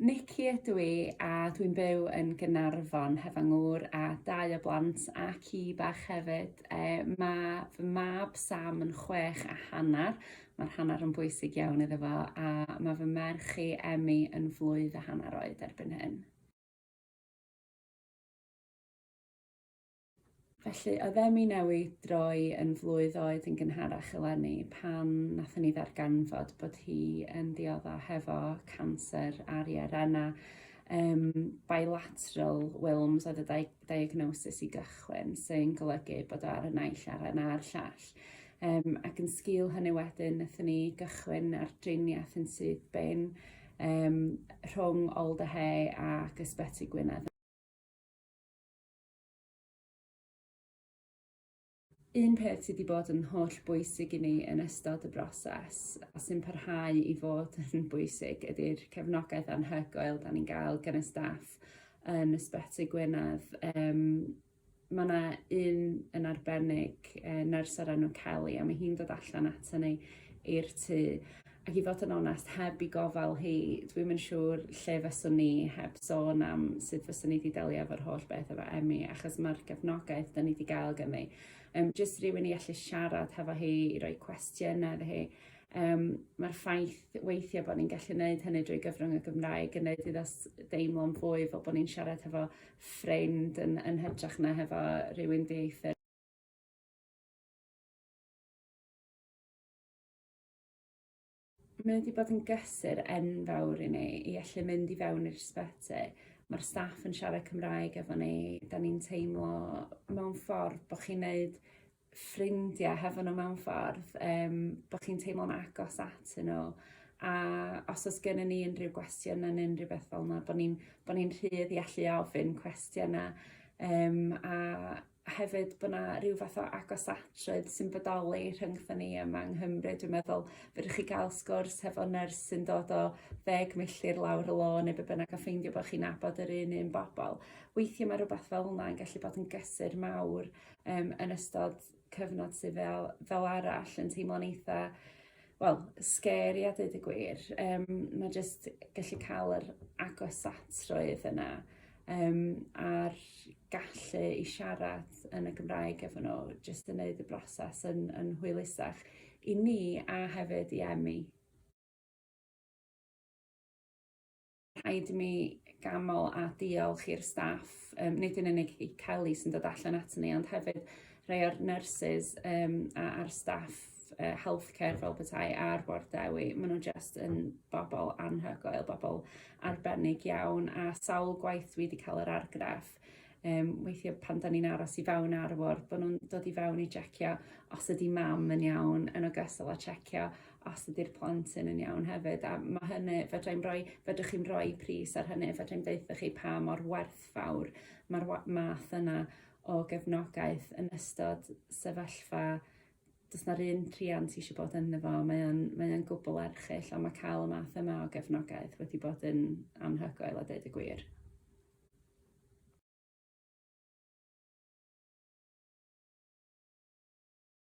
Nicky ydw i a dwi'n byw yn Gaernarfon heb fy ngŵr a dau o blant a ci bach hefyd. E, mae fy mab Sam yn chwech a hanner, mae'r hanner yn bwysig iawn iddo fo, a mae fy merch i Emmy yn flwydd a hanner oed erbyn hyn. Felly, oedd Emi Newi droi yn flwydd oed yn gynharach eleni pan nathon ni ddarganfod bod hi yn diodda' hefo canser ar ei arenau um, bilateral Wilms oedd y di diagnosis i gychwyn, sy'n golygu bod o ar y naill aren a'r llall. Um, ac yn sgil hynny wedyn, nathon ni gychwyn ar driniaeth yn syth bin um, rhwng Alderhay ac Ysbyty Gwynedd. Un peth sydd wedi bod yn holl bwysig i ni yn ystod y broses a sy'n parhau i fod yn bwysig ydi'r cefnogaeth anhygoel 'dan ni'n ga'l gan y staff yn Ysbyty Gwynedd yym ma' 'na un yn arbennig yy nyrs o'r enw Kelly a ma' hi'n dod allan aton ni i'r tŷ Ac i fod yn onest, heb i gofal hi, dwi'm yn siŵr lle fyswn ni heb sôn am sut fyswn ni wedi delio efo'r holl beth efo Emi, achos mae'r gefnogaeth da ni wedi gael ganddi. Um, just rhywun i allu siarad hefo hi, i roi cwestiynau iddo hi. Um, Mae'r ffaith weithiau bod ni'n gallu gwneud hynny drwy gyfrwng y Gymraeg yn gwneud iddo deimlo'n fwy fel bod ni'n siarad hefo ffrind yn, yn hytrach na hefo rhywun dieithr. Mae wedi bod yn gysur enfawr i ni i allu mynd i fewn i'r ysbyty. Mae'r staff yn siarad Cymraeg efo ni. 'Dan ni'n teimlo mewn ffordd bo' chi'n neud ffrindia hefo n'w mewn ffordd yym bo' chi'n teimlo'n agos atyn n'w a os o's gennyn ni unryw gwestiyna ne' unryw beth fel 'na bo' ni'n bo' ni'n rhydd i allu ofyn cwestiyna yym a a hefyd bod 'na ryw fath o agosatrwydd sy'n bodoli rhyngtho ni yma yng Nghymru dwi'n meddwl fedrwch chi ga'l sgwrs hefo nyrs sy'n dod o ddeg milltir lawr y lôn ne' be' bynnag a ffeindio bo' chi'n nabod yr un un bobol weithie ma' rwbath fel 'na yn gallu bod yn gysur mawr yym yn ystod cyfnod sy fel fel arall yn teimlo'n eitha wel scary a deud y gwir yym ma' jyst gallu ca'l yr agosatrwydd yna um, a'r gallu i siarad yn y Gymraeg efo nhw, jyst yn neud y broses yn, yn hwylusach i ni a hefyd i Emi. Rhaid mi gamol a diolch i'r staff, um, nid yn unig i Kelly sy'n dod allan at ni, ond hefyd rhai o'r nurses um, a'r staff uh, healthcare fel petai ar Bord Dewi. Maen nhw just yn bobl anhygoel, bobl arbennig iawn a sawl gwaith dwi wedi cael yr argraff um, weithiau pan da ni'n aros i fewn ar y ward, bod nhw'n dod i fewn i checio os ydy mam yn iawn, yn ogystal â checio os ydy'r plant yn yn iawn hefyd. A mae hynny, fedrai'n rhoi, fedrwch chi'n rhoi pris ar hynny, fedrai'n deutha chi pa mor werthfawr mae'r math yna o gefnogaeth yn ystod sefyllfa does na'r un rhiant eisiau bod ynddo fo mae o'n mae o'n gwbwl erchyll ond mae cael y math yma o gefnogaeth wedi bod yn anhygoel a deud y gwir.